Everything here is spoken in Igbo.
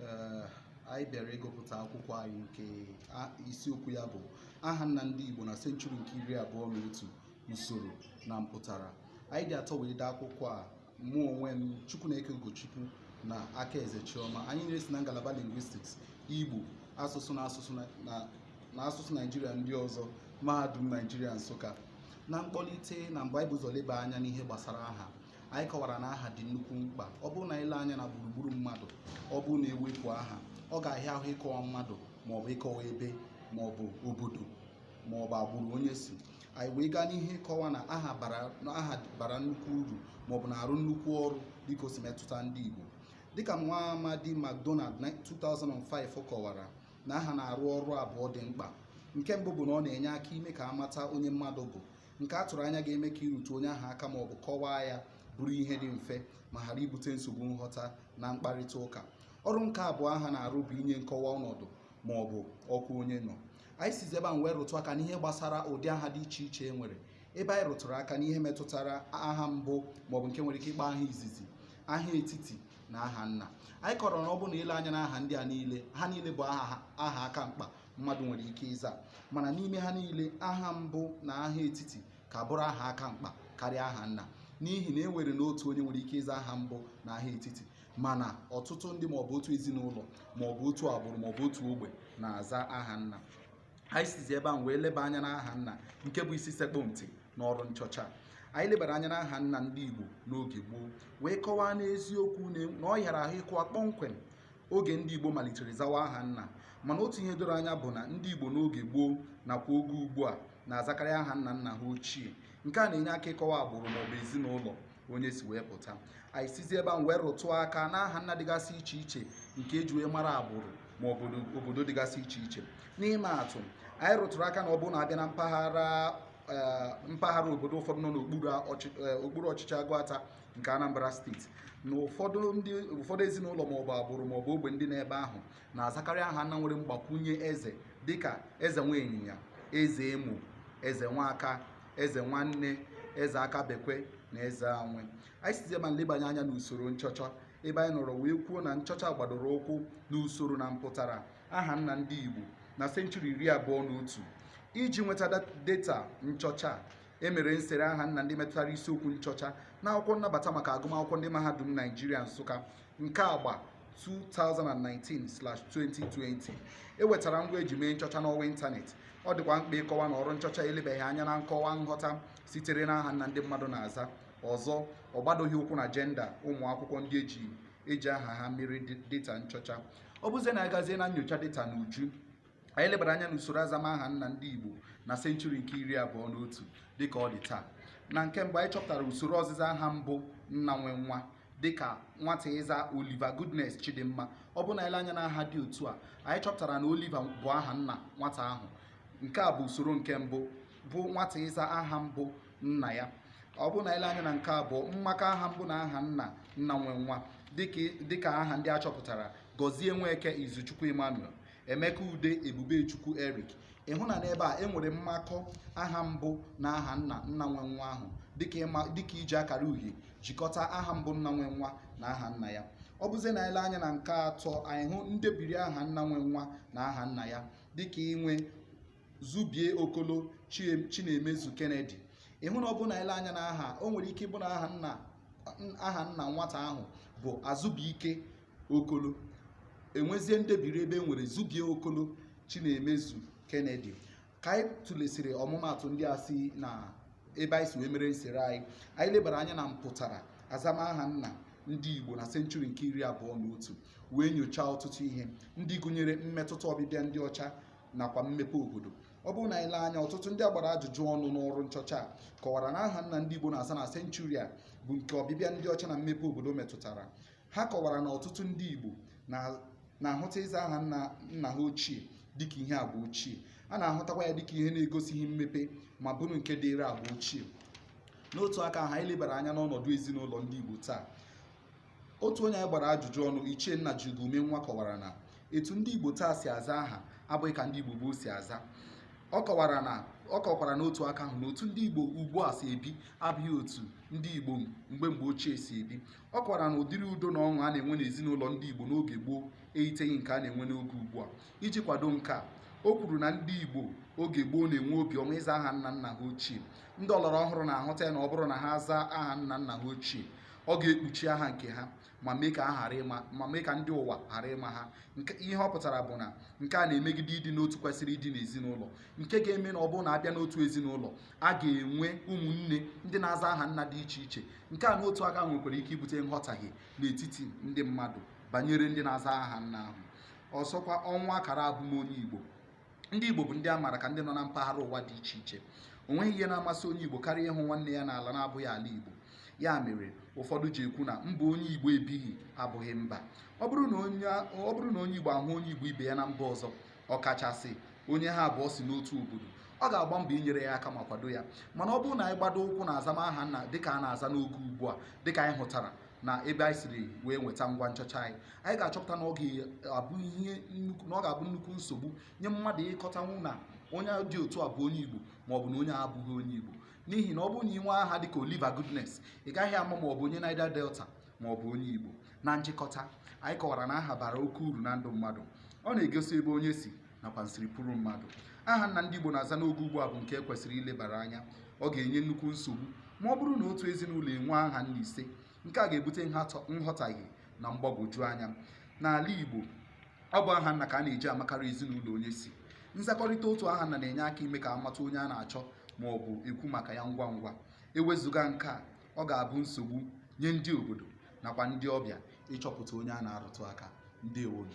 Ee, anyị bịara ịgụpụta akwụkwọ anyị nke a- isiokwu ya bụ aha nna ndị Igbo na senchuri nke iri abụọ na otu usoro na mpụtara anyị dị atọ wee dee akwụkwọ a mụ onwe m Chukwuneke Ugochukwu na Akaeze Chioma anyị niile si na ngalaba lingwistiks Igbo asụsụ na asụsụ na- na na asụsụ Naijiria ndị ọzọ mahadum Naijiria Nsụka na mkpọlite na mgbe anyị bu ụzọ leba anya n'ihe gbasara aha anyị kọwara na aha dị nnukwu mkpa ọ bụrụ na i lee anya na gburugburu mmadụ ọ bụrụ na e wepụ aha ọ ga-ahịa ahụ ịkọwa mmadụ ma ọ bụ ịkọwa ebe ma ọ bụ obodo ma ọ bụ agbụrụ onye si anyị wee gaa n'ihu ịkọwa na aha bara na aha bara nnukwu uru ma ọ bụ na-arụ nnukwu ọrụ dịka o si metụta ndị Igbo dịka nwa amadị McDonald na 2005 kọwara na aha na-arụ ọrụ abụọ dị mkpa nke mbụ bụ na ọ na-enye aka ime ka a mata onye mmadụ bụ nke a tụrụ anya ga-eme ka ịrụtụ onye ahụ aka ma ọ bụ kọwaa ya bụrụ ihe dị mfe ma ghara ibute nsogbu nghọta na mkparịta ụka ọrụ nke abụọ aha na-arụ bụ inye nkọwa ọnọdụ ma ọ bụ ọkwa onye nọ anyị sizi ebe a wee rụtụ aka n'ihe gbasara ụdị aha dị iche iche e nwere ebe anyị rụtụrụ aka n'ihe metụtara aha mbụ maọbụ nke e nwere ike ịkpọ aha izizi aha etiti na aha nna anyị kọrọ na ọ bụ na i lee anya na aha ndị a niile ha niile bụ aha aha aka mkpa mmadụ nwere ike ịza mana n'ime ha niile aha mbụ na aha etiti ka bụrụ aha aka mkpa karịa aha nna n'ihi na e nwere na otu onye nwere ike ịza aha mbụ na aha etiti mana ọtụtụ ndị maọbụ otu ezinụlọ maọbụ otu agbụrụ maọbụ otu ogbe na-aza aha nna anyị sizi ebe ahụ wee leba anya n'aha nna nke bụ isi sekpụ ntị n'ọrụ nchọcha anyị lebara anya n'aha nna ndị Igbo n'oge gboo wee kọwaa n'eziokwu na ọ hịara ahụ ịkọwa kpọmkwem oge ndị Igbo malitere zawa aha nna mana otu ihe doro anya bụ na ndị Igbo n'oge gboo nakwa oge ugbu a na-azakarị aha nna nna ha ochie nke a na-enye aka ịkọwa agbụrụ maọbụ ezinụlọ onye si wee pụta anyị sizi ebe a wee rụtụ aka na aha nna dịgasị iche iche nke e ji wee mara agbụrụ ma obodo dịgasị iche iche n'ịma atụ anyị rụtụrụ aka na ọ bụrụ na a bịa na mpaghara eh, mpaghara obodo ụfọdụ nọ n'okpuru eh, ọchịchị Aguata nke Anambra steeti na ụfọdụ ndị ụfọdụ ezinụlọ maọbụ agbụrụ maọbụ ogbe ndị n'ebe ahụ na-azakarị aha nna nwere mgbakwunye eze dịka Ezenweịnyịnya Ezeemo Ezenwaka Ezenwanne Ezeakabekwe na Ezeanwe anyị sizi ebe a lebanye anya n'usoro nchọcha ebe anyị nọrọ wee kwuo na nchọcha gbadoro ụkwụ n'usoro na mpụtara aha nna ndị Igbo na senchuri iri abụọ na otu iji nweta data nchọcha E mere nsere aha nna ndị metụtara isiokwu nchọcha n'akwụkwọ nnabata maka agụmakwụkwọ ndị mahadum Naijiria Nsụka nke agba 2019/2020. E wetara ngwa e ji mee nchọcha n'ọwa ịntanetị. Ọ dịkwa mkpa ịkọwa na ọrụ nchọcha elebaghị anya na nkọwa nghọta sitere n'aha nna ndị mmadụ na-aza. Ọzọ, ọ gbadoghị ụkwụ na jenda ụmụ akwụkwọ ndị eji eji aha ha mere data nchọcha. Ọ bụzie na a gazie na nyocha data n'uju, anyị lebara anya n'usoro azamaha nna ndị Igbo na senchuri nke iri abụọ na otu dịka ọ dị taa na nke mbụ anyị chọpụtara usoro ọzịza aha mbụ nna nwe nwa dịka nwata ịza Oliver Goodness Chidimma ọ bụ na i lee anya na aha dị otu a anyị chọpụtara na Oliver bụ aha nna nwata ahụ nke a bụ usoro nke mbụ bụ nwata ịza aha mbụ nna ya ọ bụ na i lee anya na nke abụọ mmakọ aha mbụ na aha nna nna nwe nwa dịka aha ndị a chọpụtara Gọzie Nweke Izuchukwu Emmanuel Emeka Ude Ebubechukwu Eric ị hụ na n'ebe a e nwere mmakọ aha mbụ na aha nna nna nwe nwa ahụ dịka iji akara uhie jikọta aha mbụ nna nwe nwa na aha nna ya ọ bụzie na e lee anya na nke atọ anyị hụ ndebiri aha nna nwe nwa na aha nna ya dịka inwe Zubie Okolo Chinemezu Kennedy ị hụ na ọ bụ na e lee anya na aha o nwere ike ịbụ na aha nna aha nna nwata ahụ bụ Azụbụike okolo e nwezie ndebiri ebe e nwere zubie okolo chinemezu kennedy ka anyị tụlesịrị ọmụmatụ ndị a si na ebe anyị si wee mere nsere anyị anyị lebara anya na mpụtara azamaha nna ndị igbo na senchuri nke iri abụọ na otu wee nyochaa ọtụtụ ihe ndị gụnyere mmetụta ọbịbịa ndị ọcha nakwa mmepe obodo ọ bụrụ na anyị lee anya ọtụtụ ndị a gbara ajụjụ ọnụ n'ọrụ nchọcha a kọwara na aha nna ndị igbo na-aza na senchuri a bụ nke ọbịbịa ndị ọcha na mmepe obodo metụtara Ha kọwara na ọtụtụ ndị Igbo na- na-ahụta ịza aha nna nna ha ochie dịka ihe agba ochie a na-ahụtakwa ya dịka ihe na-egosighị mmepe ma bụrụ nke dịịrị agba ochie n'otu aka ahụ anyị lebara anya n'ọnọdụ ezinụlọ ndị Igbo taa otu onye anyị gbara ajụjụ ọnụ Ichie Nnajiugo Umenwa kọwara na etu ndị Igbo taa si aza aha abụghị ka ndị Igbo gboo si aza ọ kọwara na ọ kọkwara n'otu aka ahụ na otu ndị Igbo ugbu a si ebi abụghị otu ndị Igbo mgbe mgbe ochie si ebi Ọ kọwara na ụdịrị udo na ọṅụ a na-enwe n'ezinụlọ ndị Igbo n'oge gboo eyiteghị nke a na-enwe n'oge ugbu a. Iji kwado nke a, o kwuru na ndị Igbo oge gboo na-enwe obi ọma ịza aha nna nna ha ochie. Ndị ọlọrọ ọhụrụ na-ahụta ya na ọ bụrụ na ha zaa aha nna nna ha ochie, ọ ga-ekpuchi aha nke ha ma mee ka ha ghara ịma ma mee ka ndị ụwa ghara ịma ha. Nke ihe ọ pụtara bụ na nke a na-emegide ịdị n'otu kwesịrị ịdị n'ezinụlọ nke ga-eme na ọ bụrụ na a bịa n'otu ezinụlọ, a ga-enwe ụmụnne ndị na-aza aha nna dị iche iche nke a n'otu aka nwekwara ike ibute nghọtahie n'etiti ndị mmadụ banyere ndị na-aza aha nna ahụ ọzọkwa ọnwụ akara abụmonye Igbo ndị Igbo bụ ndị a maara ka ndị nọ na mpaghara ụwa dị iche iche o nweghị ihe na-amasị onye Igbo karịa ịhụ nwanne ya n'ala na-abụghị ala Igbo ya mere ụfọdụ ji ekwu na mba onye Igbo ebighị abụghị mba ọ bụrụ na onye Igbo ahụ onye Igbo ibe ya na mba ọzọ ọkachasị onye ha abụọ si n'otu obodo ọ ga-agba mbọ inyere ya aka ma kwado ya mana ọ bụrụ na anyị gbado ụkwụ na azamaha nna dịka a na-aza n'oge ugbu a dịka anyị hụtara na ebe anyị siri wee nweta ngwa nchọcha anyị anyị ga-achọpụta na ọ ga-abụ ihe nnukwu na ọ ga-abụ nnukwu nsogbu nye mmadụ ịkọtanwu na onye dị otu a bụ onye Igbo ma ọ bụ na onye a abụghị onye Igbo n'ihi na ọ bụrụ na i nwee aha dịka Oliver Goodness ị gaghị ama ma ọ bụ onye Niger Delta ma ọ bụ onye Igbo na njikọta anyị kọwara na aha bara oke uru na ndụ mmadụ ọ na-egosi ebe onye si nakwa nsiripụrụ mmadụ aha nna ndị Igbo na-aza n'oge ugbu a bụ nke e kwesịrị ilebara anya ọ ga-enye nnukwu nsogbu ma ọ bụrụ na otu ezinụlọ enwe aha nna ise nke a ga-ebute nghọtahie na mgbagwoju anya n'ala Igbo ọ bụ aha nna ka a na-eji amakarị ezinụlọ onye si nzakọrịta otu aha nna na-enye aka ime ka a mata onye a na-achọ ma ọ bụ ekwu maka ya ngwa ngwa ewezụga nke a ọ ga-abụ nsogbu nye ndị obodo nakwa ndị ọbịa ịchọpụta onye a na-arụtụ aka ndewonụ